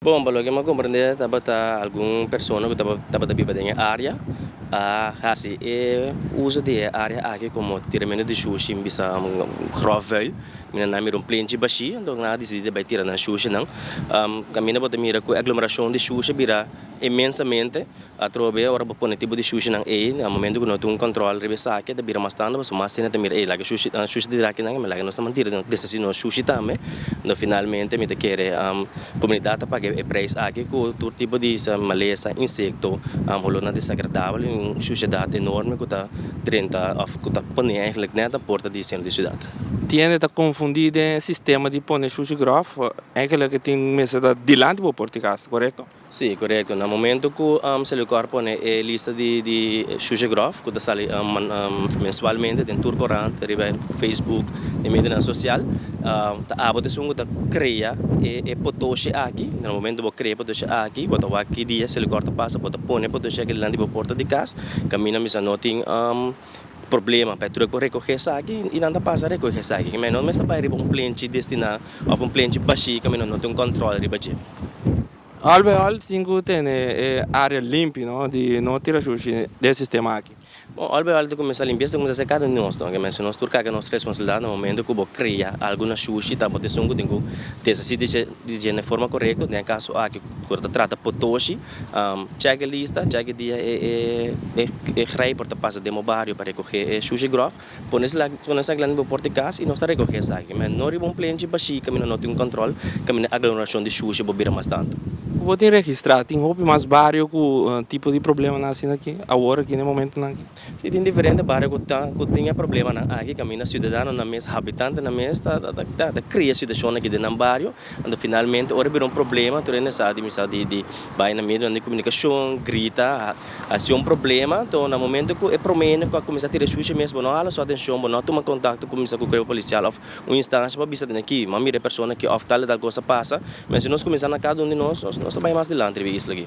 Bon, pa loke mi a komprende tabata algun persona ku tabata biba den e área a hasi e uso di e área aki komo tiramentu di shushi bisa gròfvuil. Mi na na mira un plenchi bashí, anto nan a disidí di bai tira nan shushinan. Kaminda bo ta mira ku e aglomerashon di shushi a bira e mensamente Atrobe ora bo pone tipo di shushinan ei, na momento ku no tin un kòntròl riba esaki e ta bira mas tanda, pasobra mas hende ta mira ei laga shushi ta shushi di drakinan ei, mi laga nos ta mantida nos desesi nos shushi tambe, enton finalmente mi ta kere komunidat ta paga e preis aki ku tur tipo di malesa, insekto, holornan desagradabel i un shushedat enorme ku ta drenta òf ku ta pone eigenlijk nèt na porta di sentro di siudat. Tiende ta konfundí den e sistema di pone shushi gròf, eigenlijk tin mester ta dilanti bo por di kas, korekto? Sí, korekto. Na momento ku Selecor pone e lista di di Shusegrof ku ta sali mensualmente den tur korant riba e Facebook e medionan sosial ta abo ta esun ku ta krea e potoshi aki. Na e momento bo krea e potoshi aki bo ta wak ki dia Selecor ta pasa bo ta pone e potoshi aki dilanti bo porta di kas kaminda misa no tin. problema pa e truck por recoge esaki y nan ta pasa recoge esaki ke menos mester bay riba un plenchi destina of un plenchi bashi ke menos no tin control riba dje. All by all tin cu tene e area limpi no di no tira shushi den e sistema aki. Bon all by all ta cuminsa limpi esta cuminsa ser cada un di nos no ke mester nos tur caga nos responsabilidad na momento cu bo crea algo na shushi ta bo ta esun cu tin cu tesa si di dje na forma correcto den e caso aki cu ta trata potoshi. Chèk'e lista, chèk'e dia e grijper ta pasa den bo bario pa rekogé e shushi gròf, pone nan esaki la den bo pòrt di kas i nos ta rekogé esaki, mèn no riba un plenchi bashí kaminda no tin un kòntròl, kaminda e aglomerashon di shushi bo bira mas tantu. Ku bo tin registrá, tin hopi mas bario ku tipo di problemanan asina aki awor aki na e momentunan aki. Si tin diferente bario ku ta ku tin e problemanan aki kaminda siudadanonan mes habitantenan mes ta ta ta krea situashonnan aki den nan bario anto finalmente ora e bira un problema tur e nesesá di bisa di di bai na medionan di komunikashon grita hasi un problema anto na momento ku e promé hende ku a kuminsá tira e shushi mes bo no hala su atenshon bo no tuma kontakto ku bisa ku kuerpo polisial òf un instansha pa bisa tende aki mira e persona aki òf tal i tal kos a pasa men si nos kuminsá na kada un di nos nos ta bai mas dilanti riba e isla aki.